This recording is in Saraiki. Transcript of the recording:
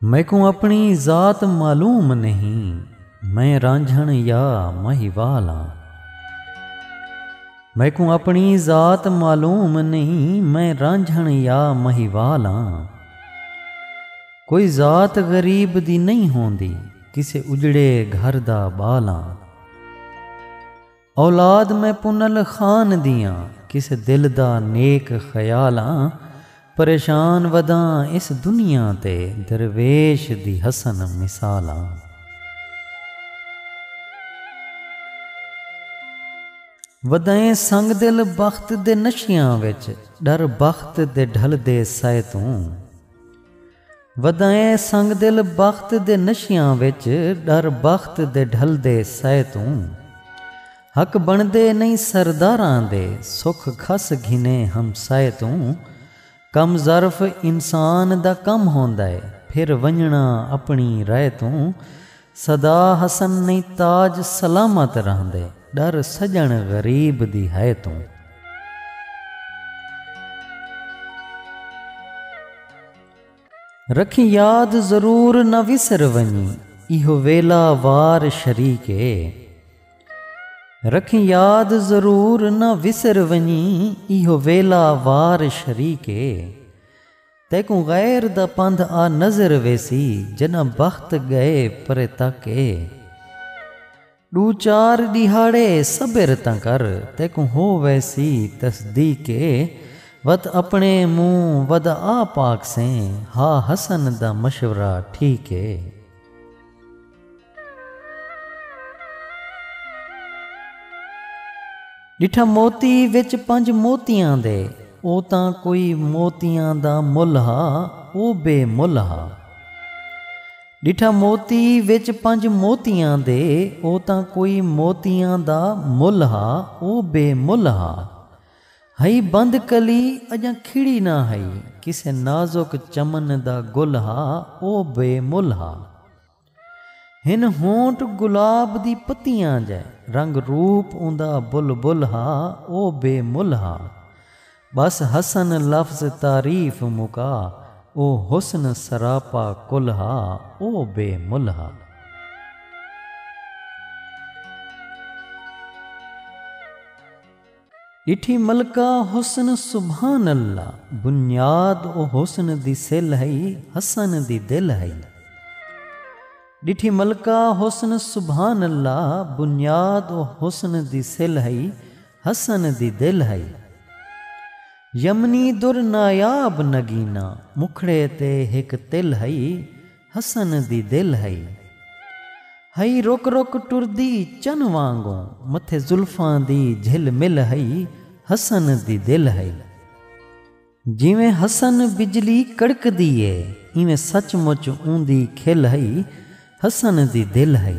میکوں اپݨی ذات معلوم نہیں میں رانجھݨ یا مہیوال ہاں میکوں اپݨی ذات معلوم نہیں میں رانجھݨ یا مہیوال ہاں کوئی ذات غریب دی نہیں ہوندی کسے اجڑے گھر دا ٻال ہاں اولاد میں پنل خان دیاں کسے دل دا نیک خیال آں پریشان وداں اس دنیا تے درویش دی حسن مثال آں۔ ودائیں سنگ دل بخت دے نشیاں وچ ڈر بخت دے ڈھلدے سئے توں۔ ودائیں سنگ دل بخت دے نشیاں وچ ݙر بخت دے ڈھلدے سئے توں حق بݨدے نئیں سرداراں دے سکھ کھس گھنے ہمسائے توں کم ظرف انسان دا کم ہوندا اے پھر ونڄݨا اپݨی رائے توں سدا حسن نیں تاج سلامت رہندے۔ ݙر سڄݨ غریب دی ہئے توں۔ رکھیں یاد ضرور نہ وسر ونڄیں۔ ایہو ویلا وار شریک اے۔ رکھیں یاد ضرور نہ وسر ونڄیں۔ ایہو ویلا وار شریک اے۔ تیکوں غیر دا پندھ آ نظر ویسی جݙاں بخت ڳئے پرے تک اے ݙو چار ݙیہاڑے صبر تاں کر تیکوں ہو ویسی تصدیق اے وت اپݨے مونہہ ودا آ پاکسیں ہا حسن دا مشورہ ٹھیک اے۔ ݙٹھا موتی وچ پنج موتیاں دے۔ او تاں کوئی موتیاں دا ملھ ہا او بے ملھ ہا۔ ݙٹھا موتی وچ پنج موتیاں دے۔ او تاں کوئی موتیاں دا ملھ ہا او بے ملھ ہا۔ ہئی بند کلی اڄاں کھڑی نہ ہئی۔ کسے نازک چمن دا گل ہا او بے ملھ ہا۔ ہن ہونٹ گلاب دی پتیاں جئے۔ رنگ روپ اوندا بلبل ہا او بے مل ہا۔ ٻس حسن لفظ تعریف مکا او حسن سراپا کل ہا او بے مل ہا۔ ݙٹھی ملکہ حسن سبحان اللہ بنیاد او حسن دی سل ہئی حسن دی دل ہئی ݙٹھی ملکہ حسن سبحان اللہ بنیاد او حسن دی سل ہئی حسن دی دل ہئی یمنی در نایاب نگینہ مکھڑے تے ہک تل ہئی حسن دی دل ہئی۔ ہئی رک رک ٹردی چن وانگوں متھے زلفاں دی جھل مل ہئی حسن دی دل ہئی۔ جیویں حسن بجلی کڑکدی اے ایویں سچ مچ اوندی کھل ہئی حسن دی دل ہئی۔